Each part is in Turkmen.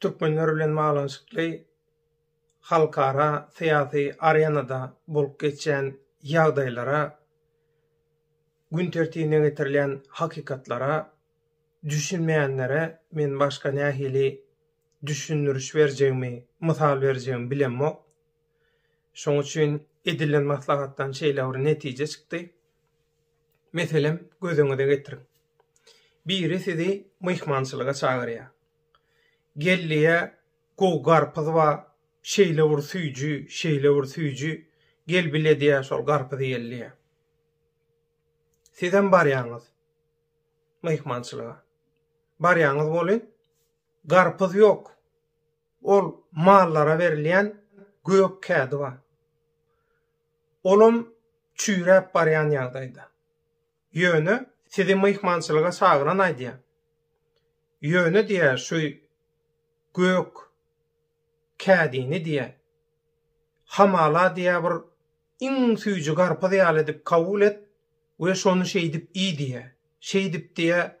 türkmenler bilen baglanyşykly halkara syýasy arenada bolup geçýän ýagdaýlara, gün tertibine getirilýän hakykatlara düşünmeýänlere men başga nähili düşündiriş berjegimi, mysal berjegimi bilemok. Şoň üçin edilen maslahatdan şeýle bir netije çykdy. Meselem, gözüňize getiriň. Biri sizi myhmançylyga çagyrýar. Geldiýä gowy garpyz bar, şeýle bir süýji, şeýle bir süýji, gel bile diýýär şol garpyzy ýeli diýýär. Sizem barýaňyz myhmançylyga. Barýaňyz welin garpyz ýok. Ol mallara berilýän gök kädi bar. Olam çüýräp barýan ýagdaýda. Ýöne sizi myhmançylyga çagyran aýdýar. Ýöne diýýär şu gök kädini diýýär. Hamala diýýär bir Iň süýji garpyz ýaly edip kabul et we şony şeýdip iý diýýär. Şeýdip diýýär,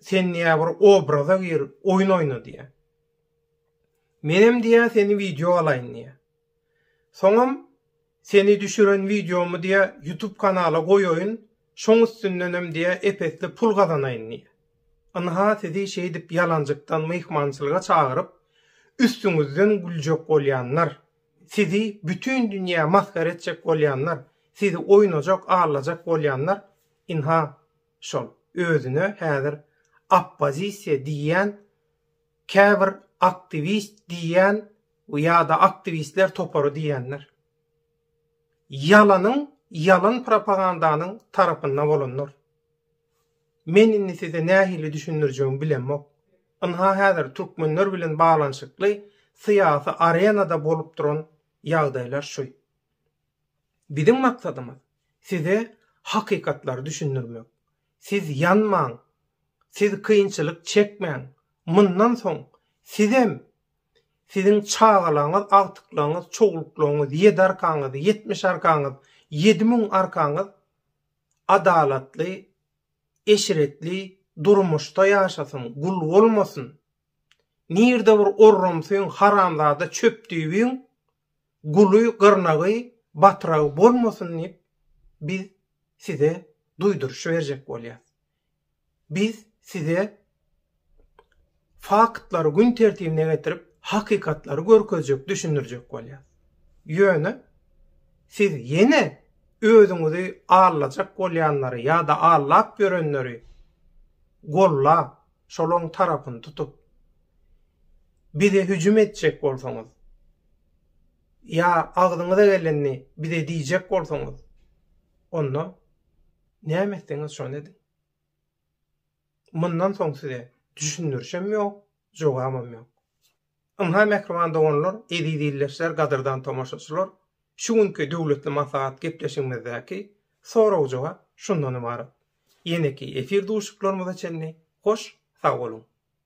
Sen diýýär bir obraza gir, oýun oýna diýýär. Menem diýýär seni wideo alaýyn diýýär. Soňam seni düşüren wideomy diýýär YouTube kanala goýaýyn, şoň üstündenem diýýär ep-esli pul gazanaýyn diýýär. Ynha sizi şeýdip ýalanjykdan myhmançylyga çagyryp, üstüňizden güljek bolýanlar. Sizi bütin dünýä masgara etjek bolýanlar, sizi oýnajak, allajak bolýanlar, ynha, şol, özüne häzir oppozisiýa diýýän, käbir aktiwist diýýän ýa-da aktiwistler topary diýýänler. Ýalanyň, ýalan propagandanyň tarapynda bolanlar. Men indi size nähili düşündirjegimi bilemok. Ynha häzir türkmenler bilen baglanyşykly syýasy arenada bolup duran ýagdaýlar şu. Biziň maksadymyz size hakykatlary düşündirmek. Siz ýanmaň, siz kynçylyk çekmäň, mundan soň sizem, siziň çagalaryňyz, agtyklaryňyz, çowluklaryňyz, ýedi arkaňyz, ýetmiş arkaňyz, ýedi müň arkaňyz adalatly, eşretli durmuşda ýaşasyn, gul bolmasyn. Nirde bir orramsyň, haramzada çöpdüýbiň guly, gyrnagy, batragy bolmasyn diýip biz size duýduryş berjek bolýas. Biz size faktlary gün tertibine getirip, hakykatlary görkezjek, düşündirjek bolýas. Ýöne siz ýene özüňizi aldajak bolýanlary ýa-da aldap ýörenleri gollap, şolaň tarapyny tutup, bize hüjüm etjek bolsaňyz, ýa agzyňyza gelenini bize diýjek bolsaňyz, onda Näme etseňiz şony ediň. Mundan soň size düşündirişem ýok, jogabam ýok. Ynha mähriban doganlar, eziz ildeşler, gadyrdan tomaşaçylar, şu günki döwletli maslahat gepleşigimizdäki sorag-jogap şundan ybarat. Ýeneki efir duşuşyklarymyza çenli hoş sag boluň.